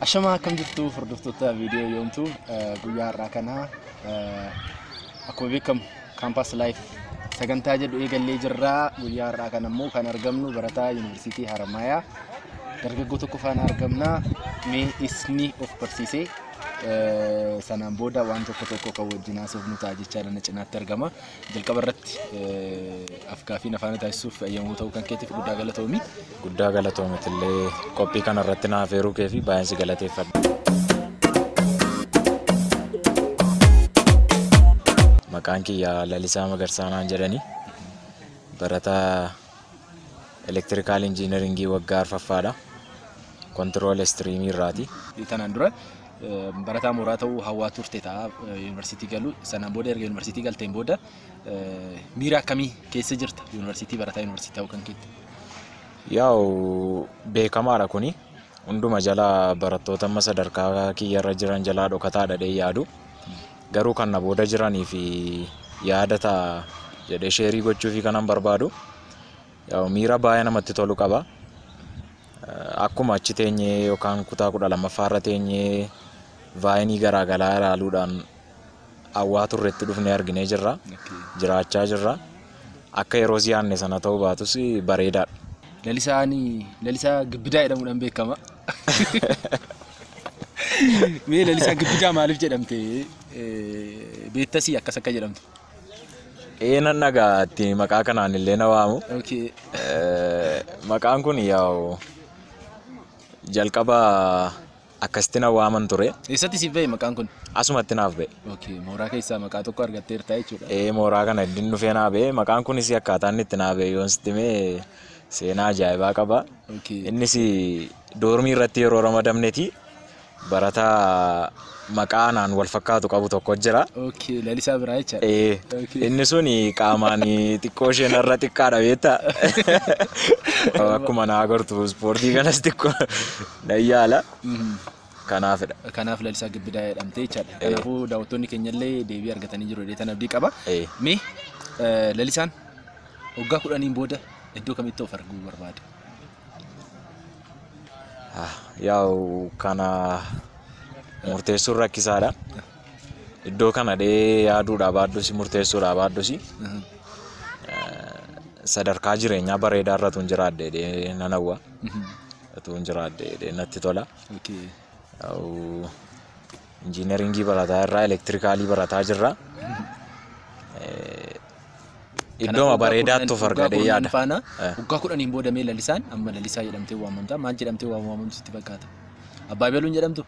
Ashamaa akkam jirtu hordoftoota viidiyoo yoomtu guyyaa har'aa kana akkuma beekamu kaampaas laayif sagantaa jedhu eegallee jirra guyyaa har'aa kana immoo kan argamnu barataa yuunivarsiitii Haramaayaa dargaggoo tokko faana argamna mee isni of barsiisee Eh, Sanaan booda waan tokko tokko kan wajjin haasofnu ta'a jechaadha na cinaatti argama. Jalqaba irratti eh, afgaafiin afaana taasisuuf eeyyamuu ta'uu kan keetiif guddaa galatoomi. Guddaa galatoomatillee qophii kana irratti na affeeruu kee fi baay'een si galateeffadha. Maqaan kiyya Lalisaa Magarsaanaan jedhani. Barataa elektirikaal injiinaringii waggaa arfaffaadha. Kontirool istiriimii irraati. Tanaan dura barataa mooraa ta'uu hawwaa turte ta'a yuunivarsiitii galuu. Sanaan booda erga yuunivarsiitii galteen booda miira akkamii keessa jirta yuunivarsiitii barataa yuunivarsiitii ta'uu kan keetti? Yaa'u beekamaadha kuni. Hunduma jala barattoota amma sadarkaa kiyyarra jiran jalaa dhokataadha dhee yaadu. Garuu kan na booda jiraniif yaada ta'a jedhee sheerii gochuufii kanan barbaadu yaa'u miira baay'ee namatti tolu qaba. Akkuma achi teenyee yookaan kutaa kudha lammaffaa irra teenyee vaayinii garaagaraa ilaaluudhaan hawwaa turretti dhufnee arginee jirra. Jiraachaa jirra. Akka yeroos yaadne sana ta'uu baatus bareedaadha. Lalisaan Lalisaa Gibbidaa jedhamuudhaan beekama. Mee Lalisaa Gibbidaa maaliif jedhamte eh, beektasii akkas akka jedhamtu? Ee nan dhagaa itti maqaa kanaan illee na waamu. Okay. Eh, Maqaan kun yaa'u jalqaba akkasitti na waaman ture. Eessatti siif ba'e maqaan kun? Asumatti naaf ba'e. Okay, mooraa keessaa maqaa tokko argatteerta jechuudha. Ee mooraa kana iddin dhufee naa ba'e. Maqaan kunis akkaataa inni itti naa ba'e yoon sitti hime seenaa ajaa'ibaa qaba. Okay. Innis doormii irratti yeroo ramadamneeti barataa maqaa anaan wal fakkaatu qabu tokko jira. Okay, lalisaa biraa jechaadha. Ee, Okay. inni sun qaamaan xiqqoo isheen irra xiqqaadha beekta. Akkuma naa agartu ispoortii kanas xiqqoo Nan yaala. Kanaafidha. Kanaaf Lalisaa Gibbidaa jedhamte jechaadha. Kanaafuu daawwattoonni keenyallee deebii argatanii jiru jedhee tan abdii qaba. Ee. Mee eh, Lalisaan waggaa kudhaniin booda iddoo kamitti of arguu barbaada? Ah, Yaa'u kana murteessuun rakkisaadha. Iddoo kana dhee yaaduudhaa baaddusi murteessuudhaa baaddusi Mhm. sadarkaa jireenyaa bareedaa irratu hin jiraadhe dhee nan hawwa. Mhm. utuun jiraadhe jedhee natti tola. Okay. Au, Injiinaringii barataa irraa elektirikaalii barataa jirra. Eh, Iddooma bareedaatti of argadhee yaada. Faana Eh. waggaa kudhaniin booda mee lalisaan amma lalisaa jedhamtee waamamta. Maal jedhamtee waam- waamamtu sitti fakkaata? Abbaa Beeluun jedhamtu?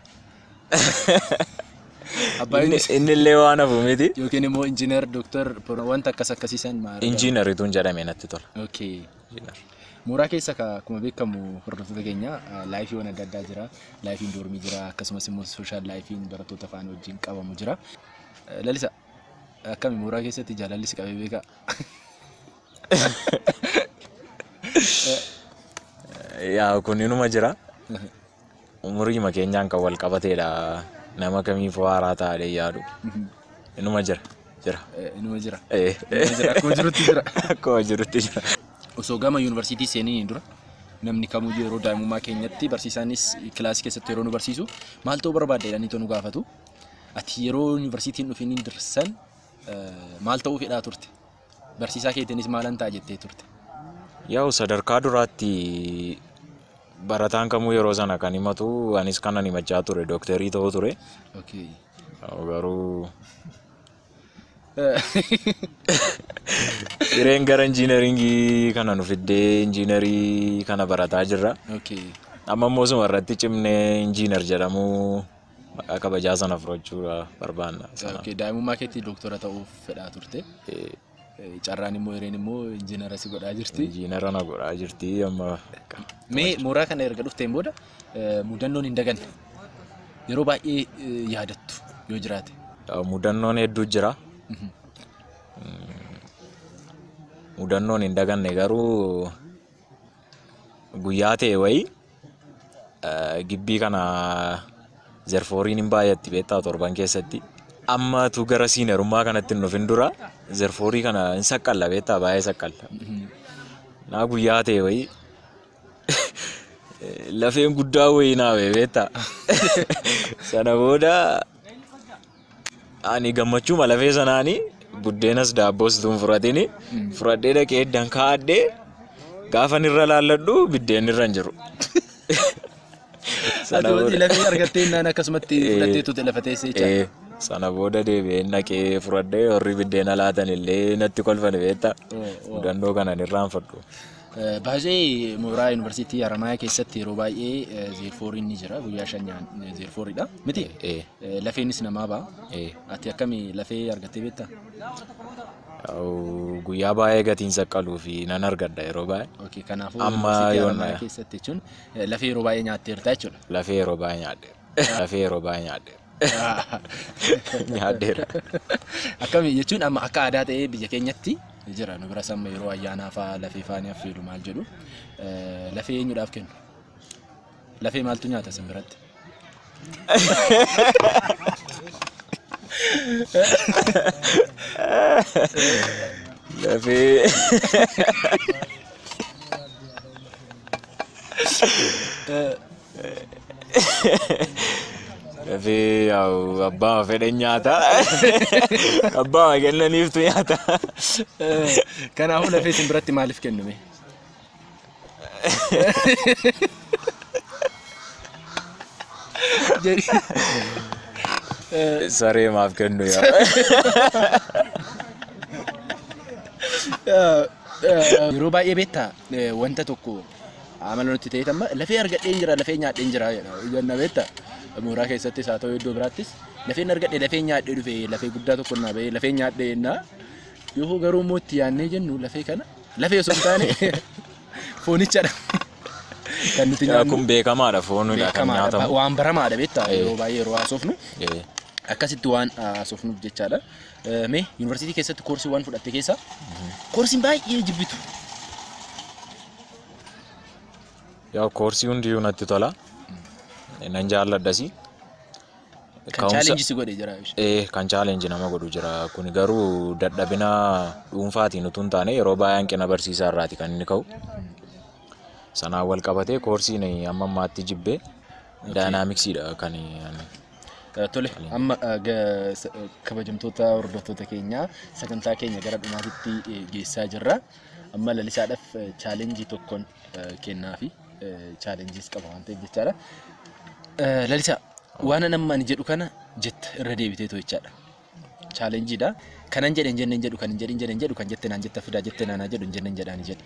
Abbaa Inni Beeluun inni illee waan hafu miti. yookiin immoo injiinar, dooktar, pro- wanta akkas akkasiisan maal? Injiinarituun jedhame natti tola. Okay. Mooraa keessa ka- akkuma beekamu hordoftoota keenya eh, laayifiiwwan adda addaa jira. Laayifiin doormii jira akkasumas immoo sooshaal laayifiin barattoota faana wajjin qabamu jira. Eh, Lalisa akkami mooraa keessatti jaalalli si qabee beekaa? Yaa kun inuma jira. Umuriima keenyaan kan wal qabateedha. Nama kamiifuu haaraa taa'ee yaadu. Inuma jira. Jira. Inuma jira. Eh. Inuma jira. Akkuma jirutti jira. Akkuma jirutti jira. Osoo gama yuunivarsiitii seeniniin dura namni kamuyyuu yeroo daa'imummaa keenyatti barsiisaanis kilaasii keessatti yeroo nu barsiisu maal ta'uu barbaadde jedhanii too nu gaafatu. Ati yeroo yuunivarsiitiin dhufiniin dursan eh, maal ta'uu fedhaa turte? Barsiisaa keetiinis maalan ta'a jettee turte? Yaa'u sadarkaa duraatti barataan kamuu yeroo sana kan himatu anis kanan himachaa ture dooktarii ta'uu ture. Okay. Yaa'u Garuu hireen gara injiinaringii kana nu fiddee injiinarii kana barataa jirra. Okay. Amma immoo suma irratti cimnee injiinar jedhamuu Maqaa kabajaa sana fudhachuu barbaanna. Okay, daa'imummaa keetti doktora ta'uuf fedhaa turte. Eh, Eh, Carraan immoo hireen immoo injiinara si godhaa jirti. Injiinara na godhaa jirti amma. Mee mooraa kana erga dhufteen booda eh, mudannoon hin daganne yeroo baay'ee eh, yaadattu yoo jiraate. Eh, Mudannoon hedduu jira. Mudannoon hin daganne garuu guyyaa ta'e wayii Gibbii kana zerfooriin hin baay'atti beektaa torban keessatti. Amma tu gara siinerummaa kanatti hin dhufin dura zerfoorii kana hin saqqalla beektaa baay'ee saqqalla. Naa guyyaa ta'e wayii lafeen guddaa wayii naa beektaa. Sana booda Ani gammachuuma lafee sanaani buddeenas daabboos utuu hin fudhatini fudhadhee dhaqee eddan kaa'adhee gaafan irra laalladhu biddeen irra hin jiru. Sana Ati booda- lafee argattee innaan akkasumatti Eh. fudhattee tuute lafa teessee jaa. Eh, sana booda deebi'een dhaqee fudhadhee warri biddeena laatan illee natti kolfan beekta. Mudannoo kanan irraanfadhu. Eh, Baay'ee mooraa yuunivarsiitii Haramaayaa keessatti yeroo baay'ee eh, zeerfooriin ni jira guyyaa shan nyaan zeerfooridha miti Eh, Lafeenis namaa ba'a. Ee. Ati akkami lafee argattee beektaa? Au, Guyyaa baay'ee gatiin saqqaluu fi nan argadha yeroo baay'ee. Okay, kanaafuu Amma yuunivarsiitii yoona- Haramaayaa keessatti jechuun eh, lafee yeroo baay'ee nyaatteerta jechuudha. Lafee yeroo baay'ee nyaadheera. Lafee yeroo baay'ee nyaadheera. Nyaadheera. Akkami jechuun amma akka aadaa ta'ee biyya keenyatti jira nu biras amma yeroo ayyaanaa fa'aa lafee fa'aa ni affeelu maal jedhu eh, lafee eenyudhaaf kennu? Lafee maaltu nyaata isin biratti? Lafee. Lafee yaa'u abbaa fedhan nyaata. Abbaa kennaniiftu nyaata. Kanaafuu lafee isin biratti maaliif kennume? Saree maaf kennu yaa. Yeroo baay'ee beektaa eh, wanta tokko amala nutti ta'e amma lafee argadheen jira lafee nyaadheen jira jedha. Janna beektaa mooraa keessattis haa ta'u iddoo biraattis lafeen argadhe lafee nyaadhee dhufe lafee guddaa tokko naa ba'ee lafee nyaadhee jennaa. Yoo garuu immoo itti yaadnee jennu lafee kana Lafee osoo hin taane foonichadha. Kan nuti nyaannu. Kun beekamaadha foonidha kan beekamaadha. Ba- nyaatamu. Waan baramaadha beektaa Eh. yeroo baay'ee yeroo haasofnu Eh, akkasitti waan haasofnuuf jechaadha. Eh, Mee yuunivarsiitii keessatti koorsii waan fudhatte keessaa koorsiin baay'ee jibbitu. Yaa koorsii hundiyyuu natti tola. Nan jaalladhasi. Kan challenge si godhe jira. Eh, kan challenge nama godhu jira. Kuni garuu dadhabina dhuunfaatiin utuu hin taane yeroo baay'ee hanqina barsiisaa irraati kan inni ka'u. Sanaan wal qabatee koorsiin amma ammaatti jibbee daayinaamiksiidha kan ani. Eh, Tole, amma eh, ga- s- eh, kabajamtoota hordoftoota keenyaa sagantaa keenya gara dhumaatitti eh, geessaa jirra. Amma lalisaadhaaf eh, challenge tokkoon kennaafi chaalenjiis qaba waan ta'eef jechaadha. Lalisaa waan amma ani jedhu kana jetta irra deebitee too jechaadha. Chaalenjiidha. Kanan jedhe hin jenne hin jedhu kan hin jedhe hin jedhe hin jedhu kan jette naan jetta fidaa jette naan haa jedhu hin jenne hin jedhaani jedhe.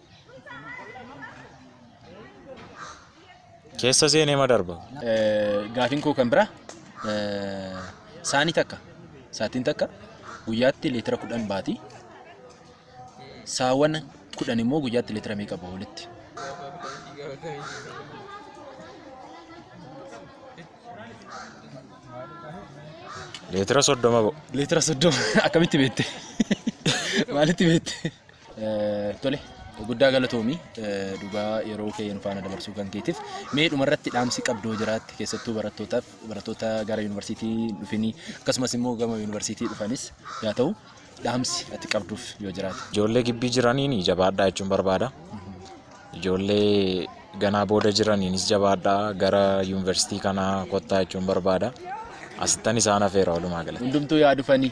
Keessa seenee ma darba? Gaafiin koo kan biraa saanii takka saatiin takka guyyaatti leetira kudhan baati. Saawwan kudhan immoo guyyaatti leetira meeqa bahu walitti? Leetira soddoma ba'u. Leetira soddoma akkamitti beekte? Maalitti beekte? Tole guddaa galatoomi dhugaa yeroo kee nu faana dabarsuu kan keetiif mee dhumarratti dhaamsi qabdoo jiraatti keessattuu barattootaaf barattoota gara yuunivarsiitii dhufanii akkasumas immoo gama yuunivarsiitii dhufanis yaa ta'u dhaamsi ati qabduuf yoo jiraate. Ijoollee gibbii jiraniin jabaadhaa jechuun barbaada. Ijoollee ganaa booda jiraniinis jabaadhaa gara yuunivarsiitii kanaa kottaa jechuun barbaada. Asittan isaan hafeera walumaa galatti. Hundumtuu yaa dhufanii.